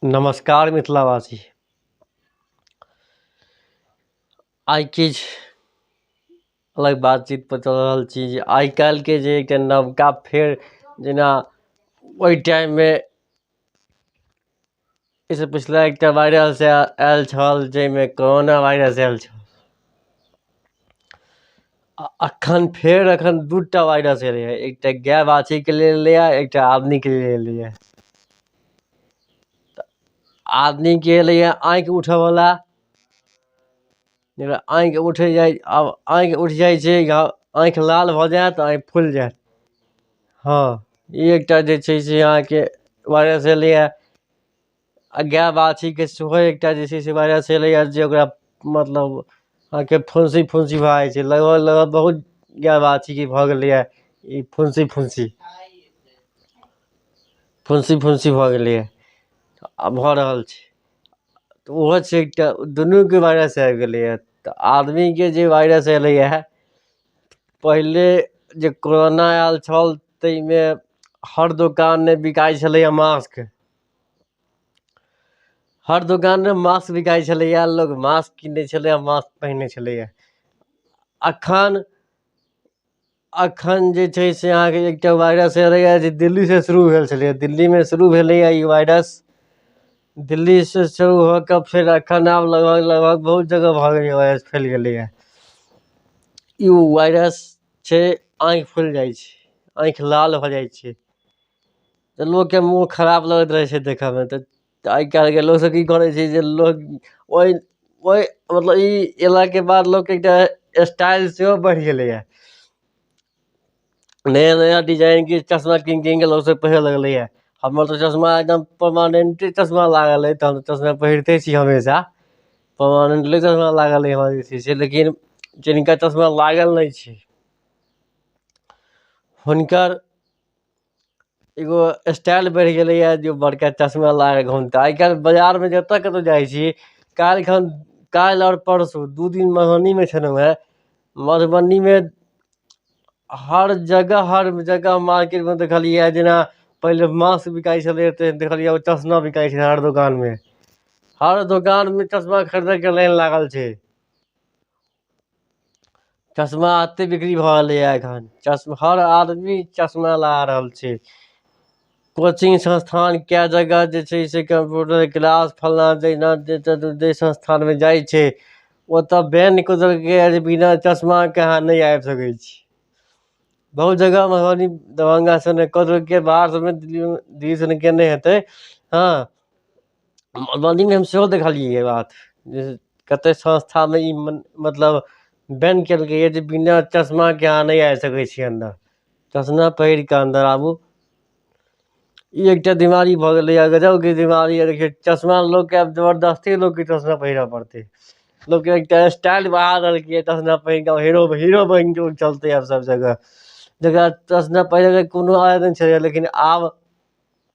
नमस्कार मिथिलावासी आइ किछु अलग बातचीत पर चल रहल छी जे आइ काल्हि के जे एकटा नवका फेर जेना ओहि टाइम मे एहिसँ पिछला एकटा वायरस आयल छल जाहिमे कोरोना वायरस आयल छल आ अखन फेर अखन दू टा वाइरस एलै हँ एकटा गाय बाछीके लेल एलै हँ एकटा आदमीके लेल एलै हँ तऽ आदमीके एलै हँ आँखि उठऽ बला जेकरा आँखि उठि जाइ आब आँखि उठि जाइ छै या आँखि लाल भऽ जायत आँखि फुलि जायत हँ ई एकटा जे छै से अहाँके वाइरस एलै हँ आ गाय बाछीके सेहो एकटा जे छै से वाइरस चलैए जे ओकरा मतलब अहाँके फुंसी फुंसी भऽ जाइ छै लगभग लगभग बहुत गाय बाछीके भऽ गेलैए ई फुंसी फुंसी फुंसी फुंसी भऽ गेलैए आ भऽ रहल छै तऽ ओहो छै एकटा दुनूके वाइरस आबि गेलैए तऽ आदमीके जे वाइरस एलैए पहिले जे कोरोना आयल छल ताहिमे हर दोकानमे बिकाइ छलैए मास्क हर दोकानमे मास्क बिकाइ छलैए लोक मास्क कीनै छलैए मास्क पहिनै छलैए एखन एखन जे छै से अहाँके एकटा वायरस एलैए जे दिल्लीसँ शुरू भेल छलैए दिल्लीमे शुरू भेलैए ई वायरस दिल्लीसँ शुरू भऽ कऽ फेर एखन आब लगभग लगभग बहुत जगह भऽ गेलैए वायरस फैल गेलैए ई वायरस छै आँखि फुलि जाइ छै आँखि लाल भऽ जाइ छै तऽ लोकके मोन खराब लगैत रहै छै देखयमे तऽ आइ काल्हिके लोकसभ की करै छै जे लोक ओहि ओहि मतलब ई अयलाके बाद लोकके एकटा स्टाइल सेहो बढ़ि गेलैए नया नया डिजाइनके चश्मा कीनि कीनि कऽ लोकसभ पहिरय लगलैए हमर तऽ चश्मा एकदम परमानेंटे चश्मा लागल अइ तऽ हम तऽ चश्मा पहिरिते छी हमेशा परमानेंटली चश्मा लागल अइ हमरा जे छै से लेकिन जिनका चश्मा लागल नहि छै हुनकर एगो स्टाइल बढ़ि गेलैए जे बड़का चश्मा लगा कऽ घुमतै आइ काल्हि बाजारमे जतय कतहु जाइ छी काल्हि खन काल्हि आओर परसू दू दिन मधुबनीमे छलहुँ हेँ मधुबनीमे हर जगह हर जगह मार्केटमे देखलियैए जेना पहिले मास्क बिकाइत छलैए तऽ देखलियै ओ चश्मा बिकाइत छलै हर दोकानमे हर दोकानमे चश्मा खरीदयके लाइन लागल छै चश्मा एतेक बिक्री भऽ गेलैए एखन चश्मा हर आदमी चश्मा लगा रहल छै कोचिंग संस्थान कए जगह जे छै से कम्प्यूटर क्लास फल्लाँ जहिना जे जतय जाहि संस्थानमे जाइ छै ओतय बैन कऽ देलकैए जे बिना चश्माके अहाँ नहि आबि सकै छी बहुत जगह मधुबनी दरभंगा सभमे कऽ देलकै बाहर सभमे दिल्लीओमे दिल्ली सनके नहि हेतै हँ मधुबनीमे हम सेहो देखलियै ई बात जे कते संस्थामे ई मतलब बैन कयलकैये जे बिना चश्माके अहाँ नहि आबि सकै छी अन्दर चश्मा पहिर कऽ अन्दर आबू ई एकटा बीमारी भऽ गेलैये गजबके बीमारी अइ देखियौ चश्मा लोकके आब जबरदस्ती लोकके चश्मा पहिरऽ पड़तै लोकके एकटा स्टाइल बना देलकैये चश्मा पहिर कऽ हीरो हीरो बनि कऽ लोक चलतै आब सभ जगह जकरा चश्मा पहिरयके कोनो आदत नहि छलैए लेकिन आब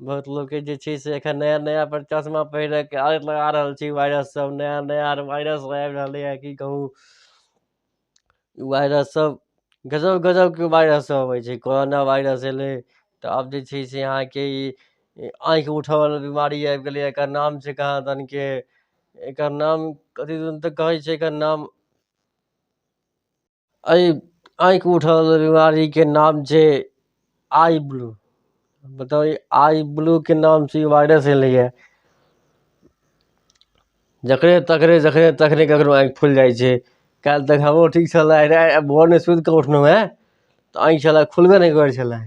बहुत लोकके जे छै से एखन नया नया पर चश्मा पहिरैके आदत लगा रहल छै वायरस सब नया नया वायरस सब आबि रहलै हँ की कहू ई वायरस सब गजब गजबके वायरस सब अबै छै कोरोना वायरस एलै तऽ आब जे छै से अहाँके ई आँखि उठऽ बला बीमारी आबि गेलै एकर नाम छै कहाँ दन के एकर नाम कथी दन तऽ कहै छै एकर नाम एहि आँखि उठयवला बीमारीके नाम छै आइ ब्लू बताउ ई आइ ब्लूके नामसँ ई वायरस एलैए जकरे तकरे जकरे तकरे ककरो आँखि फुलि जाइ छै काल्हि तक हमरो ठीक छलय आइ भोरमे सुति कऽ उठलहुँ हेँ तऽ आँखि छलय खुलबे नहि करै छलय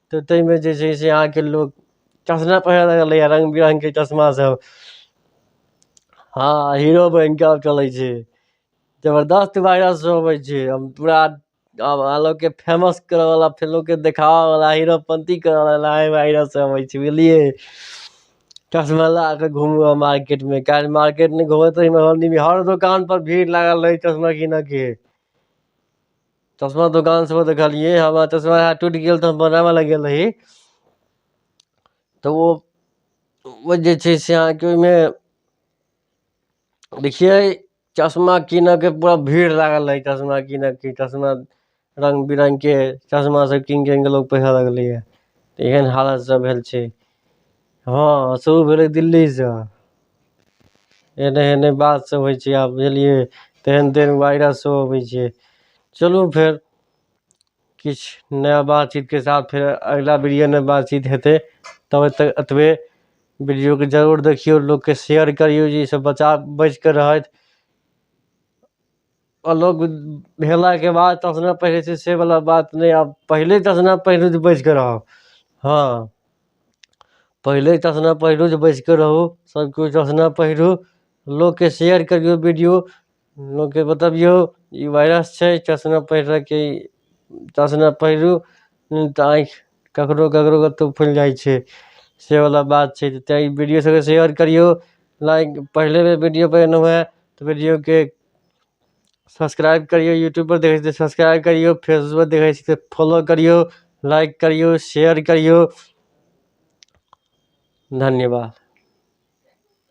तऽ ताहिमे जे छै से अहाँके लोक चश्मा पहिरय लगलैए रङ्ग बिरङ्गके चश्मासभ हँ हीरो बनि कऽ आब चलै छै जबरदस्त वायरस होबै छै हम पूरा आब अहाँ लोककेँ फेमस करयवला फेर लोककेँ देखाबयवला हीरोपन्ती करयवला एहि वायरससँ होइ छै बुझलियै चश्मा लगा कऽ घूमू मार्केटमे काल्हि मार्केटमे घूमैत रहियै हर दोकानपर भीड़ लागल रहै चश्मा कीनयके चश्मा दोकान से देखलियै हमरा चश्मा टूटि गेल तऽ हम बनाबऽ लए गेल रही तऽ ओ ओ जे छै से अहाँके ओहिमे देखियै चश्मा कीनयके पूरा भीड़ लागल रहै चश्मा कीनयके चश्मा रङ्ग बिरङ्गके चश्मासभ कीनि कीनि कऽ लोक पहिरय लगलैए एहन हालत सभ भेल छै हँ सेहो भेलै दिल्लीसँ एने एने बात सब होइ छै आब बुझलियै तेहन तेहन वायरस सब अबै छै चलू फेर किछु नया बातचीतके साथ फेर अगिला वीडियोमे बातचीत हेतै तब तक एतबे वीडियोके जरूर देखियौ लोकके शेयर करियौ जे ईसब बच्चा बचि कऽ रहथि अलग भेलाके बाद तऽ अपना पहिने छै से बला बात नहि आब पहिले तऽ जेना पहिले जे बैस कऽ रहब हँ पहिले तऽ जेना पहिले जे बैस कऽ रहू सभकिछु तऽ जेना पहिरू लोककेँ शेयर करियौ वीडियो लोककेँ बतबियौ ई वायरस छै चश्मा पहिरयके चश्मा पहिरू नहि तऽ आँखि ककरो ककरो कतहु फुलि जाइ छै सेवला बात छै जे तैँ ई वीडियो सभकेँ शेयर करियौ लाइक पहिले बेर वीडियो बनेलहुँ हेँ तऽ वीडियोकेँ सब्सक्राइब करियौ यूट्यूबपर देखै छी तऽ सब्सक्राइब करियौ फेसबुकपर देखै छी तऽ फॉलो करियौ लाइक करियौ शेयर करियौ धन्यवाद